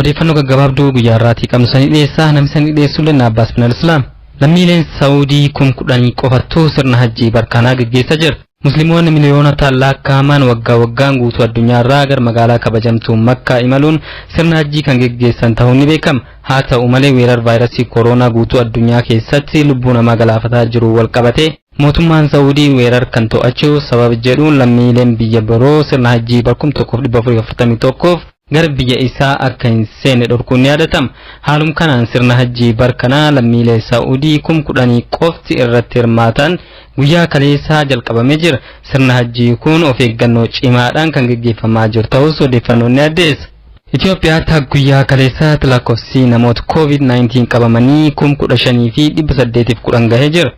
Odeeffannoo gaggabaabduu guyyaa irraatii qabnu sanii dhiyeessaa namni sanii dhiyeessullee na Abbaas Binal Islaam. Lammiileen Saawudii kum kudhanii qofattuu sirna hajjii barkaanaa geggeessaa jira. Muslimoonni miliyoonota laakkaaman waggaa waggaan guutuu addunyaa irraa gar magaalaa kabajamtuu Makkaa imaluun sirna hajjii kan geggeessan ta'uun ni beekama. Haa ta'u malee weerar vaayirasii koroonaa guutuu addunyaa keessatti lubbuu namaa galaafataa jiru wal qabatee mootummaan Saawudii weerar kan to'achuu sababa jedhuun lammiileen biyya biroo sirna hajjii barkum 1441f gara biyya isaa akka hin seenne dhorkuun ni yaadatama. Haalum kanaan sirna hajjii bar kanaa lammiilee Saa'udii kum kudhanii qofti irratti hirmaatan guyyaa kaleessaa jalqabamee jira. Sirna hajjii kun of eeggannoo cimaadhaan kan gaggeeffamaa jiru ta'us odeeffannoon ni addeessa. Itoophiyaatti hanga guyyaa kaleessaatti lakkoofsi namoota COVID-19 qabamanii kum kudha shanii fi dhibba saddeetiif kudhan gahee jira.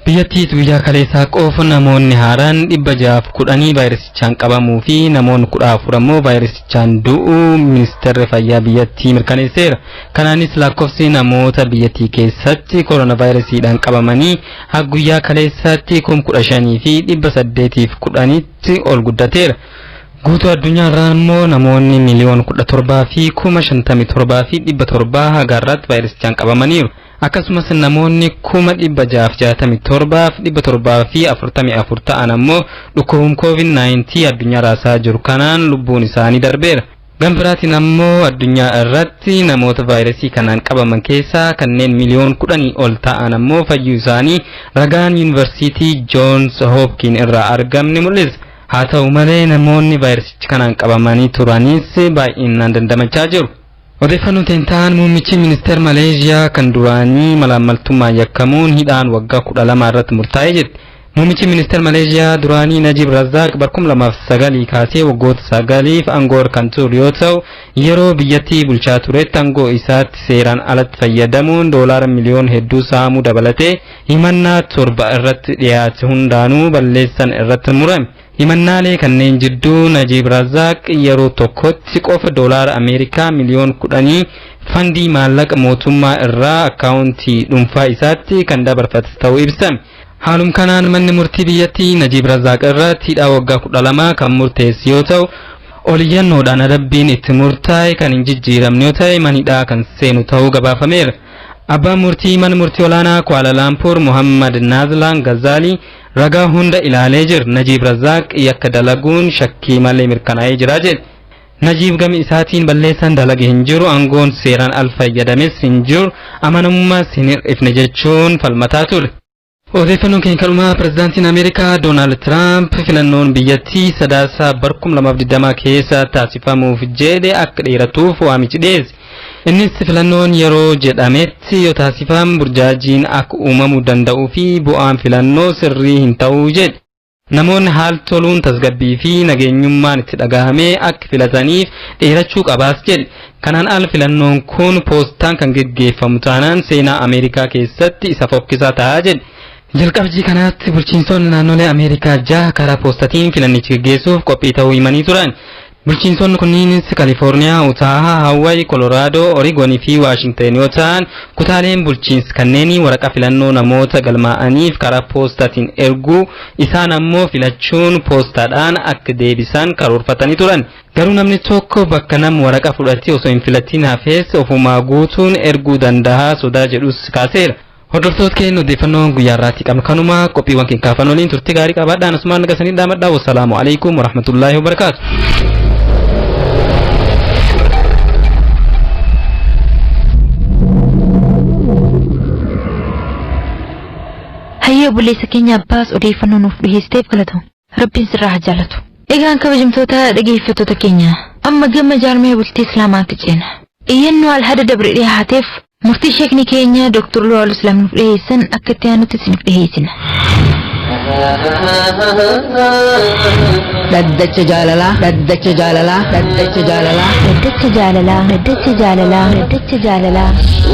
Biyyattiitti guyyaa kaleessaa qofa namoonni haaraan 610 vaayirasichaan qabamuu fi namoonni 14 ammoo vaayirasichaan du'uu ministeerri fayyaa biyyattii mirkaneesseera. Kanaanis lakkoofsi namoota biyyattii keessatti koronaavaayirasiidhaan qabamanii hanga guyyaa kaleessaatti 15,810tti ol guddateera. Guutuu addunyaa irraa immoo namoonni miliyoona 17 fi 57 fi 700 hanga har'aatti vaayirasichaan qabamaniiru. Akkasumas namoonni 667,744 ta'an ammoo dhukkubum COVID-19 addunyaa raasaa jiru kanaan lubbuun isaanii darbeera. Gama biraatiin ammoo addunyaa irratti namoota vaayirasii kanaan qabaman keessaa kanneen miliyoon kudhanii ol ta'an ammoo fayyuu isaanii ragaan yuunivarsiitii Joons Hoopkiin irraa argamne mul'isa. Haa ta'u malee namoonni vaayirasichi kanaan qabamanii turanis baay'inaan dandamachaa jiru. Odeeffannoon Tentaan muummichi ministeer Maleezhiyaa kan duraanii malaammaltummaan yakkamuun hidhaan waggaa 12 irratti murtaa'e jedhe. Muummichi ministeer Maleezhiyaa duraanii Najiib Razzaaq bara 2009 kaasee waggoota sagaliif aangoo irra kan ture yoo ta'u, yeroo biyyattii bulchaa turetti aangoo isaatti seeraan alatti fayyadamuun doolaara miliyoona hedduu saamuu dabalatee himannaa torba irratti dhiyaate hundaanuu balleessaan irratti murame. Himannaalee kanneen jidduu Najiib Razaaq yeroo tokkotti qofa doolaara Ameerikaa miliyoon kudhanii fandii maallaqa mootummaa irraa akkaawuntii dhuunfaa isaatti kan dabarfate ta'uu ibsame. Haalum kanaan manni murtii biyyattii Najiib Razaaq irratti hidhaa waggaa kudha lama kan murteesse yoo ta'u, oliyyannoodhaan adabbiin itti murtaa'e kan hin jijjiiramne yoo ta'e mana hidhaa kan seenu ta'uu gabaafameera. Abbaan murtii mana murtii olaanaa Kuala Laampuur Muhammad Naazlaan Gazaalii Ragaa hunda ilaalee jir Najiib Razzaaq yakka dalaguun shakkii malee mirkanaa'ee jira jedhe. Najiib gama isaatiin balleessaan dalage hin jiru, aangoon seeraan al fayyadames hin jiru, amanamummaas hin hir'ifne jechuun falmataa ture. Odeeffannoon keenya kan dhumaa pirezidaantiin Ameerikaa Doonaald Tiraamp filannoon biyyattii sadaasa bar 2020 keessa taasifamuuf jedhe akka dheeratuuf waamichi dhiyeesse. Innis filannoon yeroo jedhametti yoo taasifam burjaajiin akka uumamu danda'uu fi bu'aan filannoo sirrii hin ta'u jedhe. Namoonni haal toluun tasgabbii fi nageenyummaan itti dhagahamee akka filataniif dheerachuu qabaas jedhe. Kanaan al filannoon kun poostaan kan geggeeffamu taanaan seenaa Ameerikaa keessatti isa fokkisaa ta'a jedhe. Jalqabjii kanaatti bulchiinsonni naannolee Ameerikaa jaha karaa poostatiin filannichi geggeessuuf qophii ta'uu himanii turan. Bulchiinsonni kunniinis Kalifoorniyaa, Utaaha, Haawwayi, Koloraadoo, Origon fi Waashingten yoo ta'an, kutaaleen bulchiins kanneenii waraqaa filannoo namoota galmaa'aniif karaa poostaatiin erguu, isaan ammoo filachuun poostaadhaan akka deebisan karoorfatanii turan. Garuu namni tokko bakka nam waraqaa fudhatee osoo hin filatiin hafes ofumaa guutuun erguu dandaha sodaa jedhus kaaseera. Hordoftoota keenya odeeffannoon guyyaa irraatti qabnu kanuma qophiiwwan keenya kaafan waliin turtii gaarii qabaadhaan asumaan naga sanii dhaamadhaa wassalaamu alaikum warahmatullaahi wabarakaatu. Hayyee obboleessa keenya abbaas odeeffannoo nuuf dhiheessiteef galatoomi. Rabbiin sirraa haa jaalatu. Egaan kabajamtoota dhageeffattoota keenya amma gama jaarmaya bultii Islaamaatti ceena. Iyyannoo Alhada dabre dhihaateef murtii sheekni keenya Dr. Luwaal Islaam nuuf dhiheessan akka itti aanutti isiniif dhiheessina. Dhaddacha jaalalaa dhaddacha jaalalaa dhaddacha jaalalaa Daddacha jaalalaa Daddacha jaalalaa Daddacha jaalalaa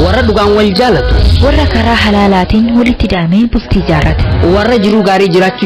warra dhugaan wal jaalatu warra karaa halaalaatiin walitti daamee bultii jaarrate. warra jiruu gaarii jiraachuu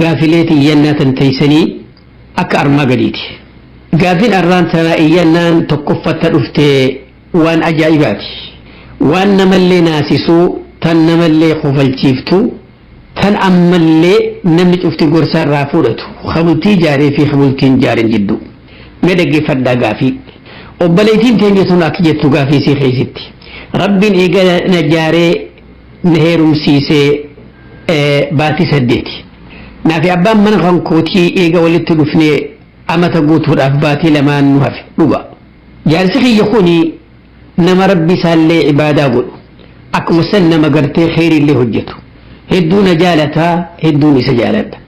Gaafilee tiyyannaa tan teeysanii akka armaa gadiiti. Gaafin arraan tanaa iyyannaan tokkoffatta dhufte waan ajaa'ibaati. Waan namallee naasisuu tan namallee kofalchiiftu tan ammallee namni cufti gorsa irraa fuudhatu ka bultii jaaree fi ka bultii hin jaarin jiddu. Mee dhaggeffadhaa gaafii. Obboleeytiin teenya tun akka jettu gaafii isii keeysitti. Rabbiin eega na jaaree na heerumsiisee baatii saddeeti. Naafi abbaan mana kan kootii eega walitti dhufnee amata guutuudhaaf baatii lamaan nu hafe dhuga. Jaarsi kiyya kuni nama rabbi isaallee ibaadaa godhu. Akkuma san nama gartee kheyriillee hojjetu. Hedduu na jaalata hedduun isa jaaladha.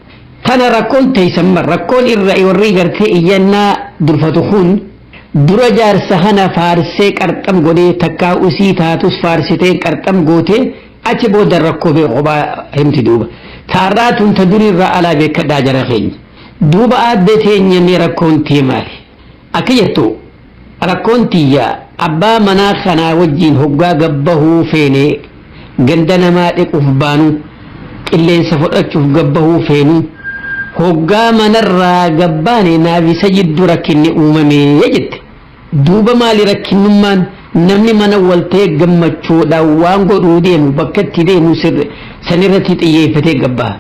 Tana rakkoon teessan rakkoon irra warri gartee iyyannaa durfatu kun Dura jaarsa kana faarsee qarxam godhee takkaa usii taatus faarsiteen qarxam gootee achi booda rakkoo bee kophaa himti duuba. Taarraa tun ta durii irraa alaa beekkadhaa jara keenya. Duuba aadde teenya mee rakkoon tee maali? Akka jettu rakkoon tiyya abbaa manaa kanaa wajjiin hoggaa gad bahuu feenee Ganda namaa dhequuf baanuu, qilleensa fudhachuuf gad bahuu feenuu, hoggaa manarraa gad baane naafi Sajiddu rakkinni uumame jette. Duuba maali rakkinnummaan? Namni mana wal ta'e gammachuudhaan waan godhuu deemu bakka itti deemu sanirratti xiyyeeffatee gad baha.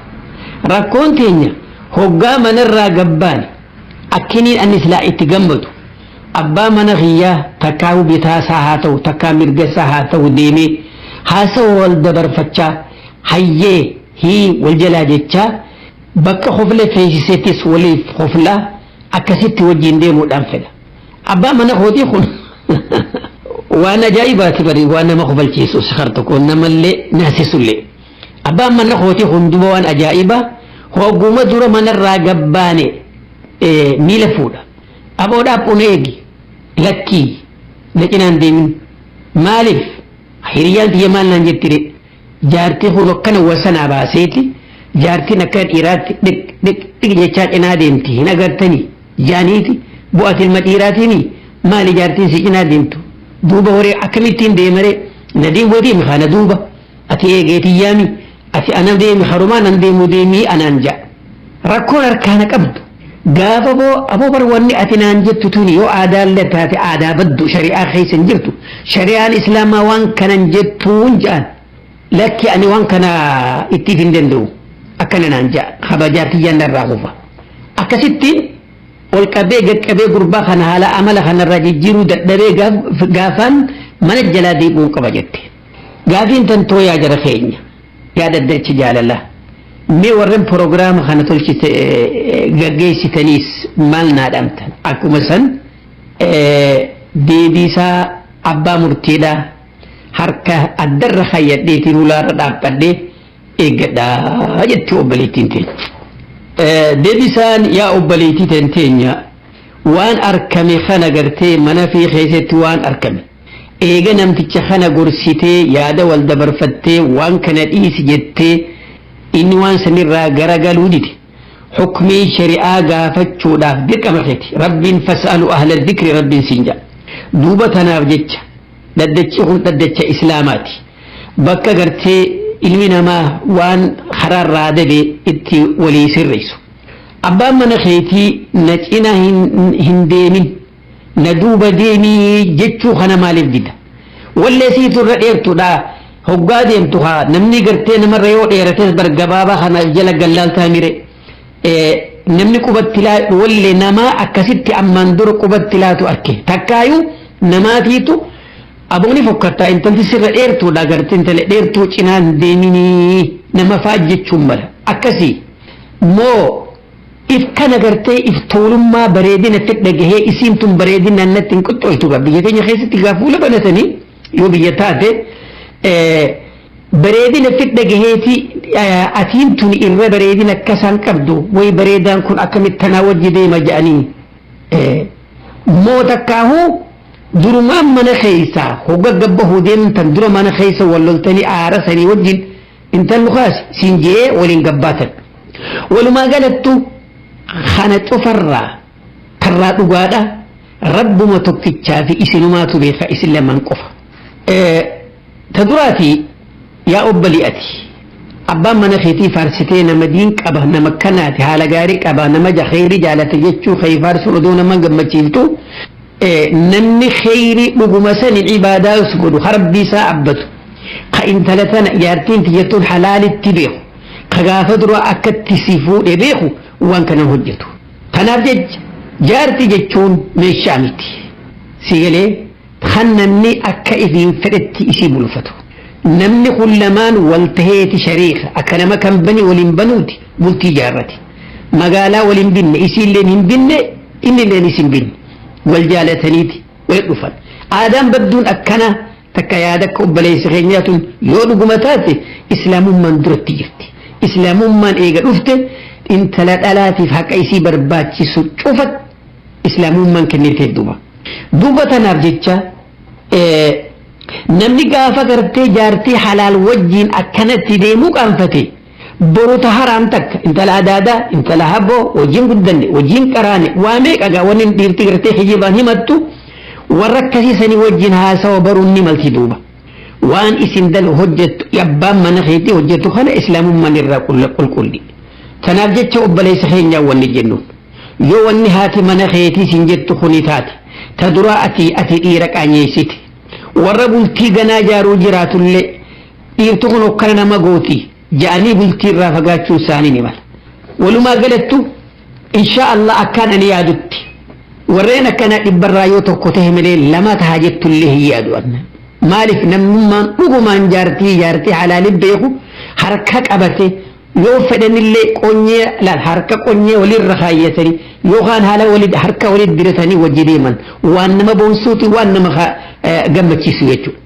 Rakkoon teenya hoggaa manarraa gad baane akkiniin ani silaa itti gammadu. Abbaa mana kiyyaa takkaahuu bitaa isaa haa ta'u takkaa mirga isaa haa ta'u deemee haasawa wal dabarfachaa hayyee hii wal jalaa jechaa bakka kofle feesisetis waliif koflaa akkasitti wajjin deemuudhaan fedha. Abbaa mana kootii kun waan ajaa'ibaati bari waan nama kofalchiisu sikar tokko namallee naasisullee. Abbaan mana kootii kun duba waan ajaa'ibaa hogguma dura manarraa gabbaane miila fuudha. Aboo dhaabbu na eegi. Lakkii na cinaa hin deemin. Maaliif hiriyyaan tiyya maal naan jettiree? Jaartii kun akkana wasanaa baaseeti jaartiin akka dhiiraatti dhiq dhiq dhiq jechaa cinaa deemti hin agartanii? Jaaniiti boo ati ilma dhiiraatiimi maali jaartiin si cinaa deemtu duuba horee akkamittiin deemaree? Nadiin wadiin haa na duuba. Ati eegee tiyyaami ati ana deemi harumaa nan deemuu deemii anaan ja'a. Rakkoon harkaa na qabdu gaafa boo aboo bar wanni ati naan jettu tuni yoo aadaallee taate aadaa baddu shari'aa keessa hin jirtu shari'aan islaamaa waan kana hin jettuun ja'an lakki ani waan kana ittiif hin danda'u akkana naan ja'a kabajaa tiyyaan narraa kufa akkasittiin ol qabee gaqqabee gurbaa kana haala amala kanarraa jijjiiruu dadhabee gaafaan mana jalaa deebi'uun qaba jette. Gaafiin tan too yaa jara keenya yaa dhaddacha jaalalaa mee warren prograama kana tolchite gaggeessitaniis maal naa dhamtan akkuma san deebiisaa abbaa murtiidhaa harka addarra kayyadheetiin hulaarra dhaabbadhee eeggadhaa jetti obboleettiin teenya. Deebisaan yaa obboleettii teenya waan arkame kana gartee mana fi keessatti waan arkame Eega namticha kana gorsitee yaada wal dabarfattee waan kana dhiisi jettee inni waan sanirraa gara galuu dide hukmii shari'aa gaafachuudhaaf dirqama keeti rabbiin fas'alu ahla dhikri rabbiin siin jedha duuba tanaaf jecha dhaddachi kun dhaddacha islaamaati bakka gartee ilmi namaa waan karaarraa dabe itti walii sirreessu abbaan mana keetii na cina hin deemin na duuba deemii jechuu kana maaliif dida wallee siitu irra dheertuudha hoggaa deemtu haa namni gartee namarra yoo dheerates bar gabaabaa kana jala gallaaltaa mire namni qubatti laatu wallee namaa akkasitti ammaan dura qubatti laatu arke takkaayuu namaatiitu abooni fokkattaa intalti sirra dheertuudha gartee intala dheertuu cinaan deeminii nama faajjechuun mala akkasii moo If kana gartee if tuulummaa bareedina itti dhagahee isiin tun bareedinaan natti hin qoxxoltu gaa biyya keenya keessatti gaa fuula banatanii yoo biyya taate bareedina itti dhagaheeti atiin tun irra bareedina akka isaan qabdu way bareedaan kun akkamitti tanaa wajji deema jedhanii moo takkaahuu durumaan mana keessa hogga gabba hodeemtan dura mana keessa wal loltanii aara sanii wajjin intallu kaasi siin je'ee waliin gabbaatan walumaa galattu kana cufarraa karraa dhugaadha rabbuma tokkichaa fi isinumaatu beeka isin lamaan qofa ta duraati yaa obbalii ati abbaan mana keetii faarsitee nama diin qaba nama kanaati haala gaarii qaba nama jaheerii jaalata jechuu kee faarsuun odoo nama gammachiiftu Namni kheyrii dhuguma saniin ibaadaa us godhu ka Rabbii isaa abbatu ka intala tana jaartiin tiyya tun halaalitti beeku ka gaafa duraa akkatti si fuudhe beeku waan kana hojjetu. Kanaaf jecha jaarti jechuun meeshaa miti. Si galee kan namni akka ifiin fedhetti isii bulfatu. Namni kun lamaan wal taheeti shariika akka nama kan bani waliin banuuti bultii jaarrati. Magaalaa waliin binne isiilleen hin binne Innilleen isin giddu wal jaalataniiti walitti dhufan. Aadaan badduun akkanaa takka yaada akka obboleessa keenyaa tun yoo dhuguma taate Islaamummaan duratti jirti. Islaamummaan eega dhufte intala dhalaatiif haqa isii barbaachisu cufa Islaamummaan kennitee duuba. Duuba tanaaf jecha namni gaafa gartee jaartii halaal wajjiin akkanatti deemuu qaanfate. Boru ta haraan takka intala adaadaa intala haboo wajjin guddanne wajjin qaraane waa meeqa gaa wanni dhiirti gartee kijibaan himattu warra akkasii sanii wajjin haasawa baruun ni malti duuba. Waan isin dal hojjettu abbaan mana keetii hojjettu kana islaamummaan irraa qulqulli. Tanaaf jecha obboleessa keenyaa wanni jennuun. Yoo wanni haati mana keetii sin jettu kuni taate ta duraa ati ati dhiira qaanyeessite. Warra bultii ganaa jaaruu jiraatullee Dhiirti kun hokkara nama gooti ja'anii bultii irraa fagaachuun isaanii ni mala. Walumaa galattu inshaa Allah akkaan ani yaadutti warreen akkanaa dhibbarraa yoo tokko ta'e malee lama taha jettullee hin yaadu anna. Maaliif namnummaan dhugumaan jaartii jaartii halaali beeku harka qabate yoo fedhanillee qonyee laal harka qonyee walirra kaayyatanii yookaan haala walii harka walii diratanii wajji deeman waan nama boonsuuti waan nama gammachiisu jechuudha.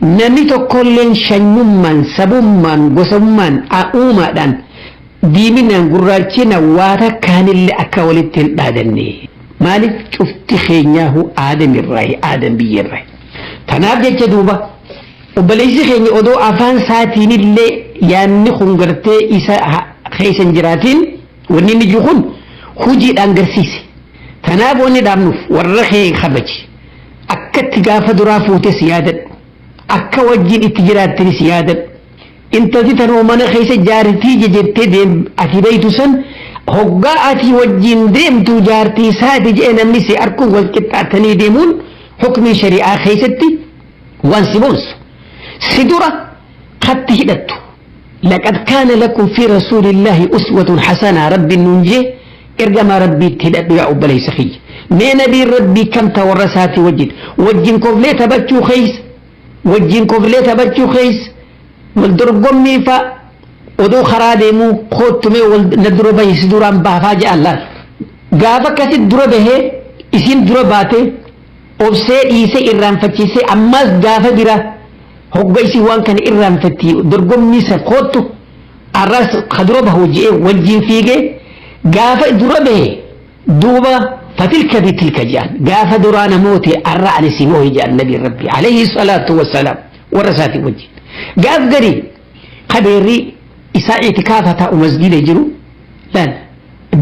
Namni tokkolleen shanyummaan, sabummaan, gosummaan, a'uumaadhaan, diiminaan, gurraachinaan waa takkaanillee akka walitti hin dhaadanne. Maaliif cufti keenyaahuu aadamirraayi, aadan biyyarraayi. Tanaaf jecha duuba obboleessi keenya odoo afaan isaatiinillee yaanni kun gartee isa keessa hin jiraatiin wanni inni jiru kun hujiidhaan garsiise. Tanaaf wanni dhaabnuuf warra kee kabaji. Akkatti gaafa duraa fuutes yaadadhu. Akka wajjin itti jiraattanis yaadadhu. Intalti tanuma mana keessa jaartii jejettee deem ati beeytu san hoggaa ati wajjin deemtu jaartii isaati jedhee namni si arku wal qixxaatanii deemuun hukmii shari'aa keessatti waan si boonsu. Si dura katti hidhattu. Laqad kaana lakum fii rasuulillaahi uswatun hasanaa Rabbiin nuun jee ergamaa Rabbiitti hidhadhu yaa obboleessa kiyya. Mee nabiin Rabbii kam ta warra isaatii wajjin wajjin koflee taphachuu keessa wajjin koflee taphachuu keessa wal dorgommii fa'a odoo karaa deemuu koottu mee wal na dura bahi si duraan baafaa ja'an laal. Gaafa akkasitti dura bahee isiin dura baatee obsee dhiisee irraanfachiisee ammaas gaafa biraa hogga isin waan kana irraanfatti dorgommii san koottu arraas ka dura bahu je'ee wajjiin fiigee gaafa dura bahe duuba fatilka bitilka je'an gaafa duraa namooti arra ani si moohi je'an nabiin rabbi alayhi salaatu wassalaam warra isaatii wajjiin gaaf garii ka beerri isaa itikaafa taa'u masgiida jiru laal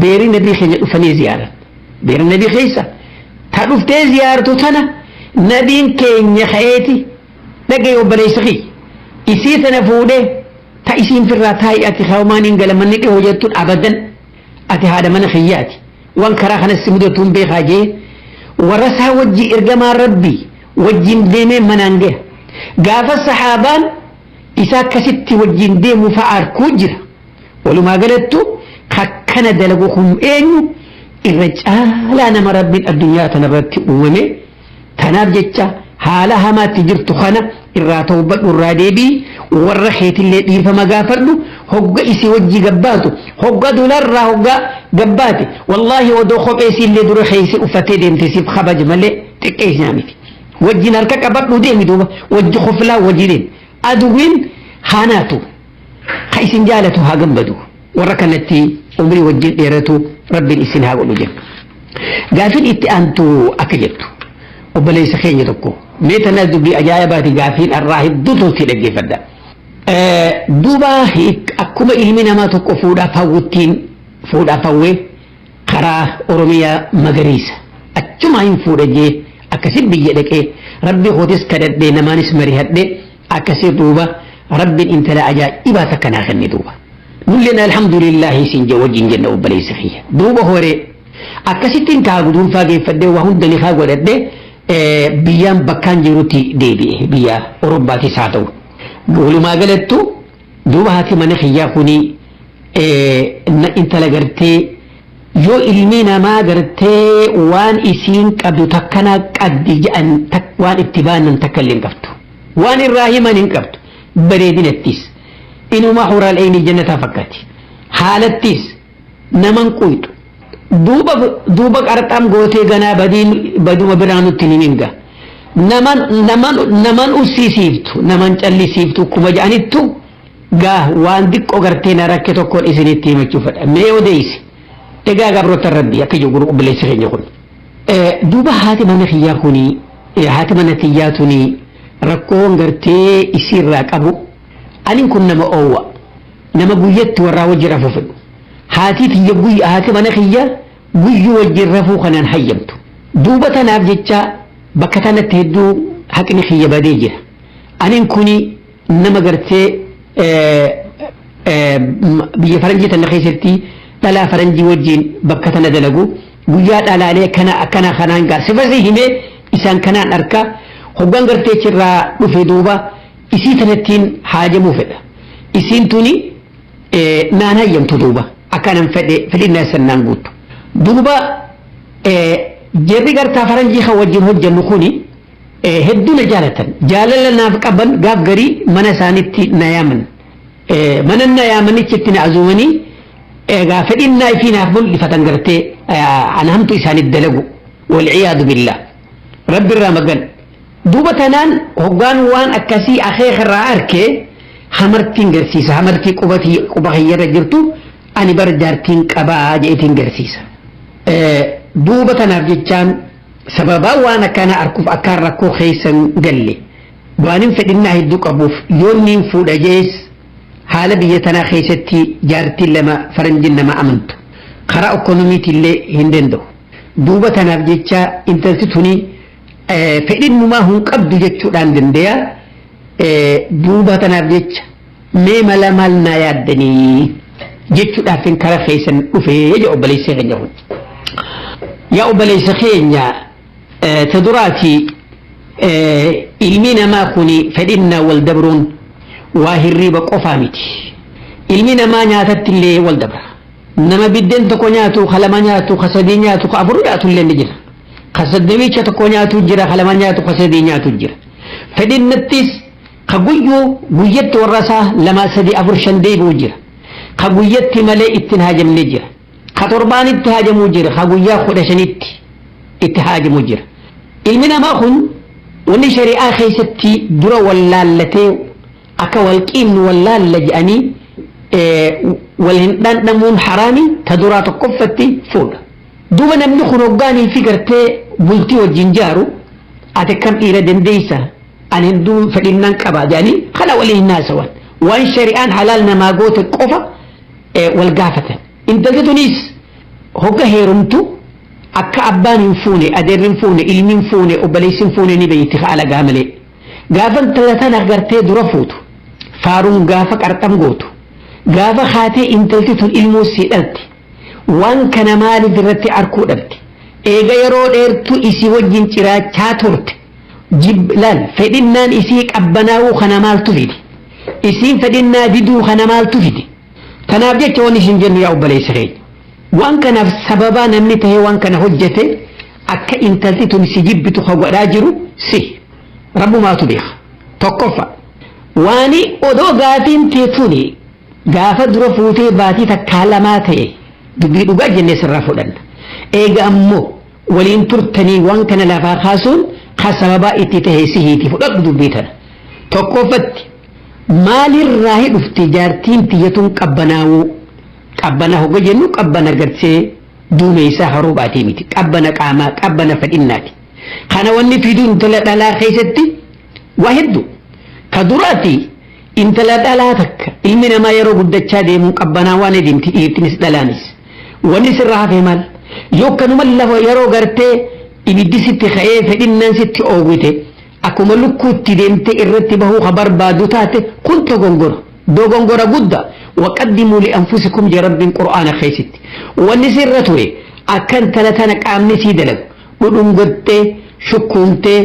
beerri nabii keenya dhufanii ziyaaran beerri nabii keessa ta dhuftee ziyaartu tana nabiin keenya ka'eeti dhagee obboleessa kiyya isii tana fuudhee ta isiin firraa taa'ii ati hawmaan hin galamanni dhihoo jettuun abadan ati haadha mana kiyyaati waan karaa kanas si mudatuun beekaa jee warra isaa wajji ergamaa rabbii wajjin deemee manaan gahe gaafa sahaabaan isa akkasitti wajjin deemu fa'a arkuu jira. Walumaa galattu kakkana dalagu kun eenyu irra caalaa nama rabbiin addunyaa tanarratti uumame tanaaf jecha haala hamaatti jirtu kana irraa tawbadhu irraa deebii warra keetillee dhiifama gaafadhu hogga isii wajji gabbaatu hogga dularraa hogga gabbaate wallaahi odoo kophee isiillee dura keessa uffattee deemte siif kabaja malee xiqqeessaa miti. wajjin harka qabadhu deemi duuba wajji koflaa wajji deemi aduwwiin haanaatu ka isin jaalatu haa gammadu warra kanatti umrii wajjin dheeratu rabbiin isin haa godhu jenna gaafin itti aantu akka jettu obboleessa keenya tokko mee tana dubbii ajaa'ibaati gaafiin arraa hedduu tolti dhaggeeffadha duuba akkuma ilmi namaa tokko fuudhaaf hawwuttiin fuudhaaf hawwee karaa oromiyaa magariisa achumaa hin fuudha jee akkasi biyya dhaqee rabbi kootis kadhadhee namaanis marihadhee akkasi duuba rabbin intala ajaa'ibaa takka naa kenne duuba nulleen alhamdulillahi isin jee wajjin jenna obboleessa kiyya duuba horee akkasittiin kaa guduunfaa geeffadhee waa hunda nikaa godhadhee biyyaan bakkaan jirutti deebi'e biyya orombaatiis haa ta'u walumaa galattu Duuba haati mana kiyyaa kuni intala gartee yoo ilmi namaa gartee waan isiin qabdu takkanaa qabdi jedhan waan itti baanan takka illee hin qabdu. Waan irraa himan hin qabdu. Bareedinattis. Inuma huraal'eeyni jannataa fakkaati. Haalattis. naman quyxu duuba duuba qarxaam gootee ganaa badiin baduma biraa nutti hin himin ga naman naman naman ussisiiftu naman callisiiftu kuma ja'anittu gaa waan diqqo gartee na rakke tokkoon isinitti himachuu fedha mee odeessi egaa gabroota rabbii akka jiru obboleessi keenya kun duuba haati mana kiyyaa kuni haati mana kiyyaa tuni rakkoon gartee isiirraa qabu anin kun nama oowwa nama guyyatti warraa wajji rafuu fedhu haatii tiyya guyya haati mana kiyya guyyuu wajjin rafuu kanaan hayyamtu duuba tanaaf jecha bakka tanatti hedduu haqni kiyya badee jira anin kuni nama gartee biyya faranjii tana keessatti dhalaa faranjii wajjin bakka tana dalagu guyyaa dhalaalee kana akkana kanaan gaar sifasii himee isaan kanaan arka hoggaan gartee chirraa dhufe duuba Isii tanattiin haajamuu fedha. Isiin tuni naan hayyamtu duuba akka nan fedhe fedhinnaa isan naan guuttu. Duuba jarri gartaa faranjii kan wajjin hojjannu kuni hedduu na jaalatan. Jaalala naaf qaban gaaf garii mana isaanitti na yaaman. Mana na yaamanichi itti na azuumanii egaa fedhinnaa ifii naaf mul'ifatan gartee ana hamtu isaaniif dalagu. Walciyaadu billah. Rabbi irraa magan. Duuba tanaan hoggaan waan akkasii akeeka irraa arke hamartiin garsiisa hamartii quba tiyya- quba kiyya irra jirtu ani bar jaartiin qabaa jeetiin garsiisa. Eh, Duuba tanaaf jechaan sababaa waan akkana arkuuf akkaan rakkoo keessa hin galle waanin fedhinnaa hedduu qabuuf yoon niin fuudha jees haala biyya tanaa keessatti jaartiin lama faranjiin nama amantu karaa ekonomiitillee hin danda'u. Duuba tanaaf jecha intalti tuni fedhin numaa hun qabdu jechuudhaan dandeeya duuba tanaaf jecha mee mala maal naa yaaddanii jechuudhaaf hin kara keessan dhufee jedha obboleessa keenya kun. Yaa obboleessa keenya ta duraati ilmi namaa kun fedhinnaa wal dabruun waa hirriiba qofaa miti. Ilmi namaa nyaatatti illee wal dabra. Nama biddeen tokko nyaatu, ka lama nyaatu, ka sadii nyaatu, ka afur nyaatu illee ni jira. ka soddoomiicha tokko nyaatu jira ka lama nyaatu ka sadii nyaatu jira fedhinnattis ka guyyuu guyyatti warra isaa lama sadii afur shan deebi'u jira ka guyyatti malee ittiin haajamne jira ka torbaanitti haajamuu jira ka guyyaa kudha shanitti itti haajamu jira ilmi namaa kun wanni shari'aa keessatti dura wallaallatee akka walqiin wallaalla jedhanii wal hin dhandhamuun haraami ta duraa tokkoffatti fuudha Duuba namni kun hoggaa niitii gartee bultii wajjin jaaru ati akkam dhiira dandeessa ani hunduu fedhinnaan qaba jedhanii kana waliin hin haasawan waan shari'aan halaal namaa goote qofa wal gaafatan intalti tunis hogga heerumtu akka abbaan hin fuune adeerri hin fuune ilmi hin fuune obboleessi hin fuune ni beeyti haala gaamalee gaafa intala tana gartee dura fuutu faaruun gaafa qarxam gootu gaafa haatee intalti tun ilmoo sii dhalti Waan kana maaliif irratti arkuu dhabde? Eega yeroo dheertuu isii wajjin ciraachaa turte jib laal fedhinnaan isii qabbanaa'uu kana maaltu fide? Isiin fedhinnaa diduu kana maaltu fide? Tanaaf jecha waan isin jennu yaa obboleessa keenya. Waan kanaaf sababaa namni ta'ee waan kana hojjete akka intalti tun si jibbitu ka godhaa jiru si. Rabbumaatu beeka. Tokkoffa. Waani odoo gaafiin tee tuni Gaafa dura fuutee baatii takkaa lamaa ta'e dubbii dhugaa jennee sirraa fudhanna. Eega ammoo waliin turtanii waan kana lafaa kaasuun kan sababaa itti ta'e sihiiti fudhadhu dubbii tana. Tokkoffatti maalirraa hi dhufti jaartiin tiyyatuun qabbanaawuu qabbana hogga jennu qabbana gartee duumeysaa haruu baatee miti qabbana qaamaa qabbana fedhinnaati. Kana wanni fiduun tola dhalaa keessatti Waa hedduu. Ka duraati intala dhalaa takka ilmi namaa yeroo guddachaa deemuun qabbanaawaa ni deemti dhiirtinis dhalaanis. Wanni sirra hafe maal? Yoo akkanuma lafa yeroo gartee ibiddi sitti ka'ee fedhinnaan sitti oowwite akkuma lukkuutti deemtee irratti bahuu ka barbaaddu taate kun dogongora. Dogongora guddaa. Waqaddimuu li'anfusikum jee Rabbiin Qur'aana keessatti. Wanni sirra ture akka intala tana qaamni sii dalagu dhudhungattee shukkuumtee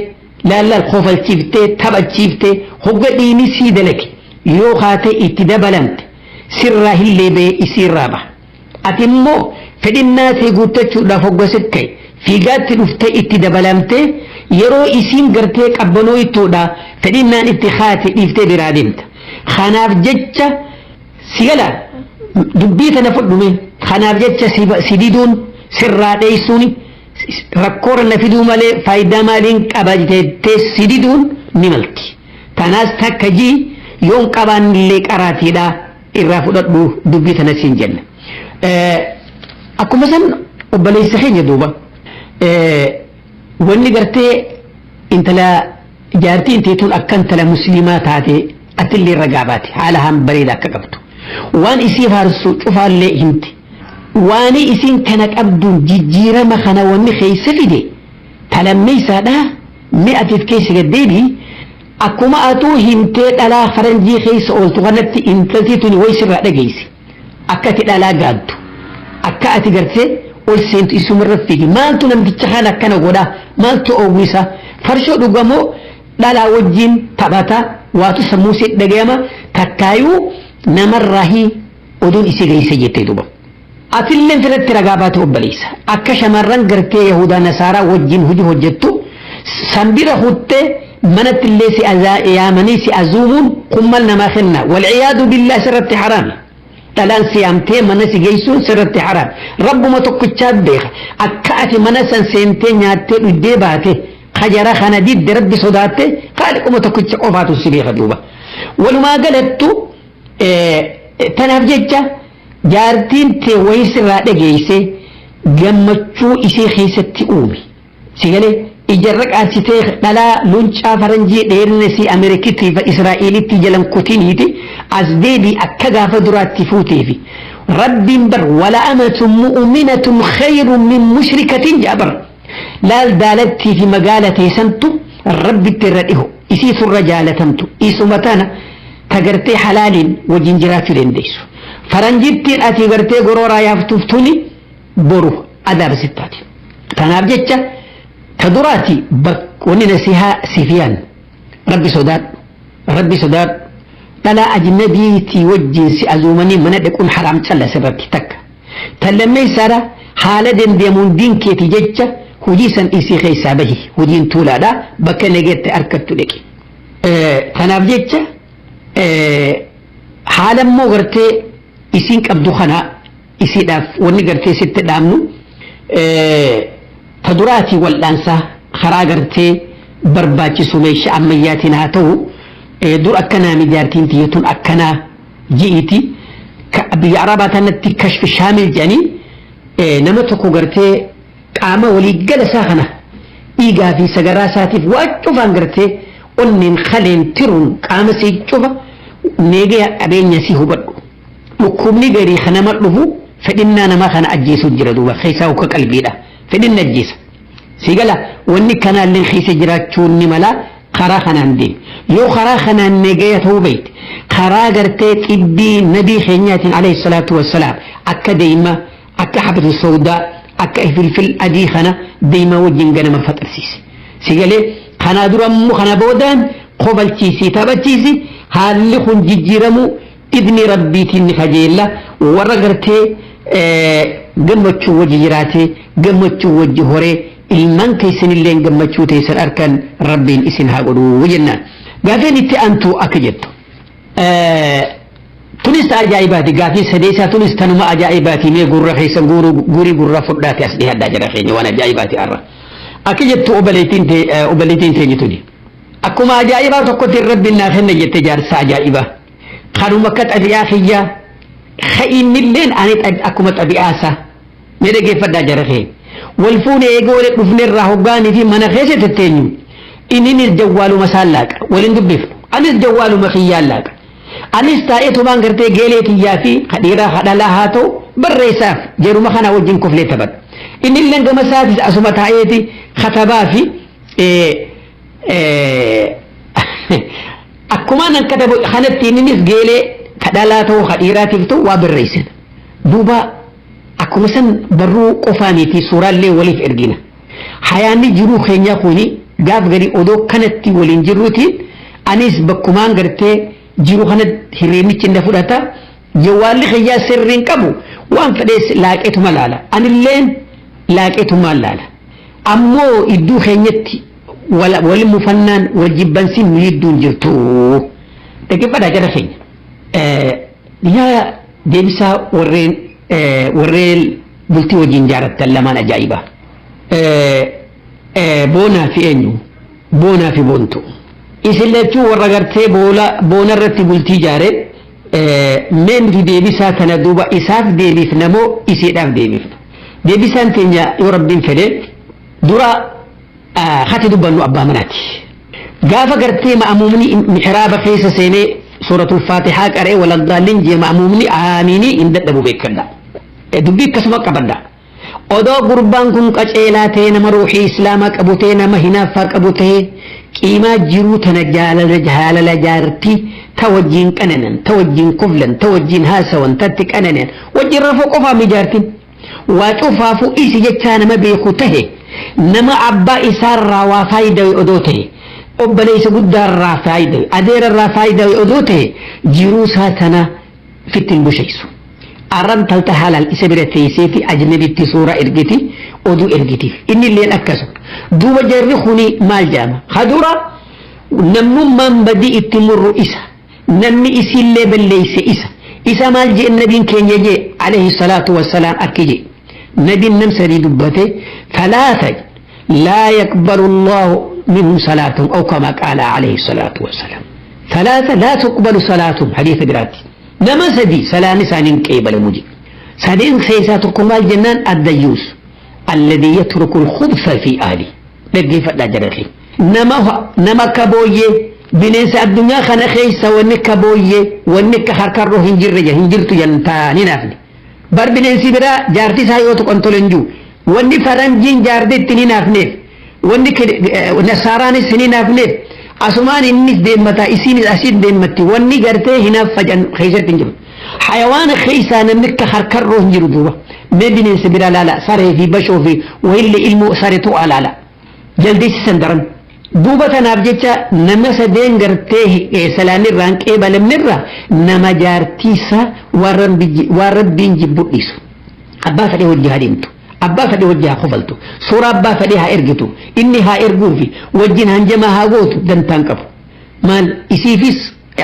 Laallal kofalchiiftee taphachiiftee hogga dhiini sii dalage yoo kaatee itti dabalamte sirraa hin leebee isiirraa baha. Ati immoo fedhinnaa tee guuttachuudhaaf hogga sit ka'e fiigaatti dhuftee itti dabalamtee yeroo isiin gartee qabbanooytuudhaa fedhinnaan itti kaate dhiiftee biraa deemta. Kanaaf jecha si gala dubbii tana fudhume kanaaf jecha si diduun sirraa dheessuuni. Rakkoorra na fiduu malee faayidaa maaliin qaba jettee si diduun ni malti. Tanaas takka ji yoon qabaannillee qaraatiidha irraa fudhadhu dubbii tana siin jenna. Akkuma san obboleessa keenya duuba wanni gartee intala jaartii intee tun akka intala musliimaa taate atillee ragaa baate haala haan bareeda akka qabdu. Waan isii faarsu cufaallee himti. Waani isiin kana qabduun jijjiirama kana wanni keessa fide ta lammeeysaadha mee ati if keessa gad deebi'i akkuma atuu himtee dhalaa faranjii keessa ooltu kanatti intalti tuni way sirraa dhageeyse akka ati dhalaa gaaddu akka ati gartee ol seentu isuma irra fiigi maaltu namticha kana akkana godha maaltu oowwisa farshoo dhuga moo dhalaa wajjiin taphata waatu sammuu siit dhagayama takkaayuu namarraa hii Oduun isii geeyse jettee duuba. Atilleen firratti ragaa baate obboleeysa. Akka shamarran gartee yahuudaa nasaaraa wajjin hujii hojjattu san bira kuttee manattillee si yaamanii si azuumuun kun mal namaa kenna. Walciyaadu billaah sirratti haraami. Dhalaan si yaamtee mana si geeysuun sirratti haraami. Rabbuma tokkichaa beeka. Akka ati mana san seentee nyaattee dhuddee baate kajara kana didde rabbi sodaatte qaaliquma tokkicha qofaatu si beeka duuba. Walumaa galattu Tanaaf jecha jaartiin tee wayii sirraa dhageessee gammachuu isii keessatti uumi. Si galee ijarra qaarsitee dhalaa luncaa faranjii dheerina isii Ameerikitti fi Israa'elitti jalan kutiniiti as deebii akka gaafa duraatti fuuteefi. Rabbiin bar wala amatun mu'uminatun khayrun min mushrikatin jaabar. Laal daalattii fi magaala tee santu Rabbitti irra dhiho. Isiitu irra jaalatamtu. Isuma tana ta gartee halaaliin wajjin jiraachuu dandeessu. Faranjittiin ati gartee gorooraa yaaftuuf tuni boru adaaba sitti taati. Tanaaf jecha ta duraati wanni nasihaa siif yaannu. Rabbi sodaadhu. Rabbi sodaadhu. Dhalaa ajnabiitii wajjin si azuumanii mana dhaquun haraam callase irratti takka. Tan lammeessaadha haala dandeemuun diin keeti jecha hujii san dhiisii keessaa bahi hujiin tuulaadha bakka nageetti harkattu dhiqi. Tanaaf jecha haala immoo gartee isiin qabdu kana isiidhaaf wanni gartee sitti dhaamnu ta duraatii wal'aansaa karaa gartee barbaachisu meeshaa ammayyaatiin haa ta'u dur akkanaa mijaartiin tiyyatuun akkanaa ji'iiti ka biyya arabaa tanatti kashfi shaamil jedhanii eh, nama tokko gartee qaama waliiggala isaa kana dhiigaa fi sagaraa isaatiif waa cufaan gartee onneen kaleen tiruun qaama si cufa neegaya qabeenya si hubadhu dhukkubni garii kanama dhufu fedhinnaa nama kana ajjeesuu jira duuba keessaa hukka qalbiidha fedhinna ajjeesa Sii gala wanni kanaalleen keessa jiraachuun ni mala karaa kanaan deemi. Yoo karaa kanaan negaya ta'uu beekte karaa gartee xibbii nabii keenyaatiin alayhi salaatu wassalaam akka deema akka habatu sawdaa akka ifilfil adii kana deemaa wajjin ganama faxarsiisi. Sii galee kanaa dura immoo kana boodaan kobalchiisi taphachiisi haalli kun jijjiiramuu Idnii rabbiitiin ni kajeella warra gartee gammachuu wajji jiraatee gammachuu wajji horee ilmaan teessanilleen gammachuu teessan arkan rabbiin isin haa godhuu jennaan. Gaaffiin itti aantu akka jettu. Tunis ta ajaa'ibaati gaaffiin sadeessaa tunis tanuma ajaa'ibaati mee gurra keessan guurii gurra fudhaate as dhihadhaa jira keenya waan ajaa'ibaati har'a. Akka jettu obboleettiin teenye tuni. Akkuma ajaa'ibaa tokkotti rabbiin naa kenna jette jaarsa ajaa'ibaa. Kanuma akka xabi'aa kiyyaa ka innilleen ani xab- akkuma xabi'aa isaa mee dhaggeeffadhaa jara kee wal fuune eegee wal dhufne irraa hoggaanii fi mana keessa tetteenyu inninis jawwaaluma isaan laaqa waliin dubbifnu anis jawwaaluma kiyyaan laaqa anis taa'ee tumaan gartee geelee tiyyaa fi kadhiiraa kadhalaa haa ta'u barreessaaf jaruma kana wajjin kuflee taphadha innilleen gama isaatis asuma taa'eeti katabaa fi eh, eh, Akkumaan an katabu kanatti inninis geelee ka dhalaa ta'uu ka dhiiraatiif ta'u waa barreessan. Duuba akkuma san barruu qofaa mitii suuraallee waliif ergina. Hayaanni jiruu keenyaa kuni gaaf garii odoo kanatti waliin jirruutiin anis bakkumaan gartee jiru kana hirreemichi na fudhata. Jawwaalli kiyyaa sirriin qabu waan fedhees laaqeetuma laala. Anilleen laaqeetumaan laala. Ammoo idduu keenyatti wal mufannaan wal jibbansi nu jidduu hin jirtu dhaggeeffadhaa jara keenya yaa deebisaa warreen warreen bultii wajjin jaarattan lamaan ajaa'ibaa boonaa fi eenyu boonaa fi boontu isin lachuu warra gartee boona irratti bultii jaare mee nuti deebisaa tana duuba isaaf deebifna moo isiidhaaf deebifna deebisaan keenya yoo rabbiin fedhe dura kati dubbannu abbaa manaati. Gaafa gartee ma'amuumni mihraaba keessa seenee suuratul faatihaa qara'ee waladdaalliin jee ma'amuumni aamiinii hin dadhabu beekadha. Dubbii akkasuma qabadha. Odoo gurbaan kun qaceelaa ta'e nama ruuxii islaamaa qabu ta'e nama hinaaffaa qabu ta'e qiimaa jiruu tana jaalala jaalala jaartii ta wajjin qananan ta wajjin koflan ta wajjin haasawan tatti qananan wajjin rafuu qofaami jaartiin. Waa cufaafuu dhiisi jechaa nama beeku tahe, nama abbaa isaa irraa waa faayidawe odoo tahe, obboleessa guddaa irraa faayidawe, adeera irraa faayidawe odoo tahe jiruu isaa tana fitti hin bushaysu. Arra intalta halaal isa bira teesseeti ajnabitti suuraa ergiti, oduu ergitiif. Inni illeen akkasuma. Duuba jarri kuni maal jedhama? Ka dura namnummaan badii itti murru isa. Namni isiillee balleeyse isa. Isa maal je'en nabiin keenya je'e, aleyhi salaatu wa salaam, akki je'e. Nabiin nam sadii dubbate, thalaatha laa yaqbalu Allaahu minhum salaatahum aw kamaa qaala aleyhi salaatu wa salaam. Thalaatha laa tuqbalu salaatuhum hadiisa biraatti. Nama sadii salaanni isaanii hin qeebalamu je'e. Sadeen keeysaa tokko maal jennaan, addayyuus. Alladhii yatruku al-khubtha fi ahlihi. Dhaggeeffadhaa jara keenya. Nama nama akka booyyee bineensa addunyaa kana keessa wanni akka booyyee wanni akka karkarroo hin jirre jedha hin jirtu jedhan taa'anii naafne. Bar bineensi biraa jaartii isaa yoo tuqan tole hin jiru. Wanni faranjiin jaartii ittiin hin naafneef wanni nasaaraanis hin naafneef asumaan innis deemmataa isiinis asiin deemmatti wanni gartee hinaaf facan keessatti hin jiru. Hayawaana keessaa namni akka karkarroo hin jiru duuba. Mee bineensa biraa laala saree fi bashoo fi wayillee ilmoo saree tuqaa laala. jaldeessisan daran. Duuba tanaaf jecha nama sadeen gartee salaanni irraan qeebalamne irraa nama jaartiisa waan rabbiin jibbu dhiisu. Abbaa fedhee hojii haa deemtu. Abbaa fedhee hojii haa kofaltu. Suuraa abbaa fedhee haa ergitu. Inni haa erguufi wajjin hanjamaa haa gootu dantaan qabu. Maal isiifis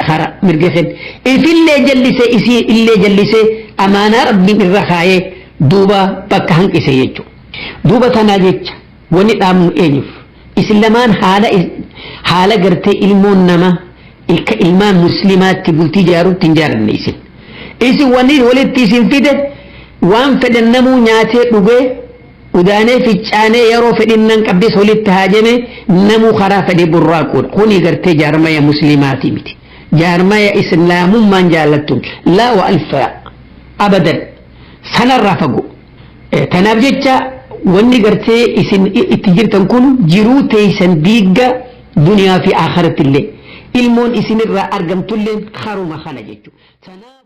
hara mirga kenna. Ifillee jallisee isii illee jallisee amaanaa rabbiin irra kaayee duuba bakka hanqise jechuudha. Duuba tanaa jecha wani dhaamnu eenyuf? Isin lamaan haala haala gartee ilmoon nama ilka ilmaan muslimaatti bultii jaarutti hin jaaranne isin. Isin wani walitti isin fide waan fedhan namuu nyaatee dhugee udaanee ficcaanee yeroo fedhinnan qabdes walitti haajame namuu karaa fedhe burraaquudha. Kuni gartee jaarmaya muslimaati miti. Jaarmaya islaamummaan jaallattun laa wa alfaa abadan sanarraa fagoo. Tanaaf jecha wanni gartee isin itti jirtan kun jiruu teeysan diigga duniyaa fi aakhiratti illee ilmoon isinirraa argamtulleen karuma kana jechuudha.